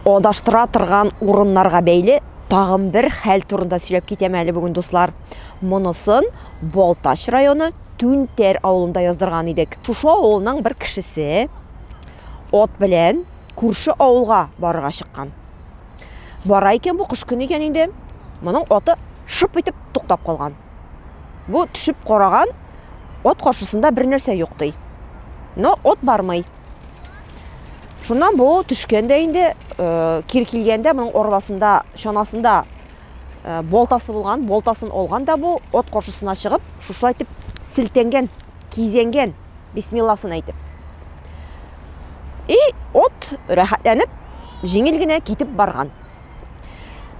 Адаштыра торган урыннарга бәйле тагын бер хәл турында сөйләп китәм әле бүген, дуслар. Монысын Балтач районы Түнтәр авылында яздырган идек. Шушы авылның бер кешесе ат белән күрше авылга барырга чыккан. Бара икән бу кыш көне икән инде. Моның аты шып итеп туктап калган. Бу төшеп караган ат каршысында бер нәрсә юк ди. Но ат бармый. Шуннан бу төшкәндә инде э, кир килгәндә моның арбасында, чанасында э, болтасы булган, болтасын алган да бу от каршысына чыгып, шушылай итеп силтенгән, кизенгән бисмилласын әйтеп. И от рәхәтләнеп, җиңел генә китеп барган.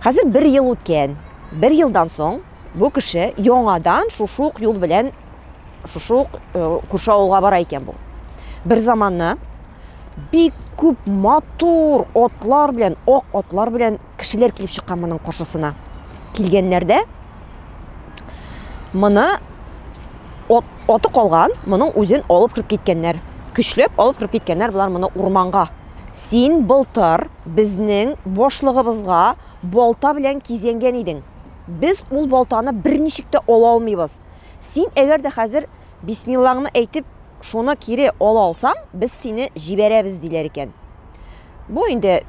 Хәзер бер ел үткән. Бер елдан соң бу кеше яңадан шушук юл белән шушы ук э, күрше авылга бара икән бу бер заманны бик күп матур отлар белән ак отлар белән кешеләр килеп чыккан моның каршысына килгәннәрдә моны от, оты калган моның үзен алып кереп киткәннәр көчләп алып кереп киткәннәр болар моны урманга син былтыр безнең башлыгыбызга балта белән кизәнгән идең без ул балтаны берничек тә ала алмыйбыз Син әгәр дә хәзер бисмиллаңны әйтеп, шуны кире ала алсаң, без сине җибәрәбез, диләр икән. Бу инде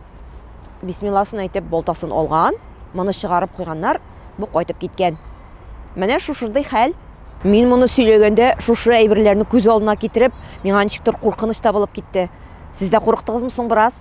бисмилласын әйтеп балтасын алган, моны чыгарып куйганнар, бу кайтып киткән. Менә шушындый хәл. Мин моны сөйләгәндә, шушы әйберләрне күз алдына китереп, миңа ничектер куркыныч та булып китте. Сез дә курыктыгызмы соң бераз?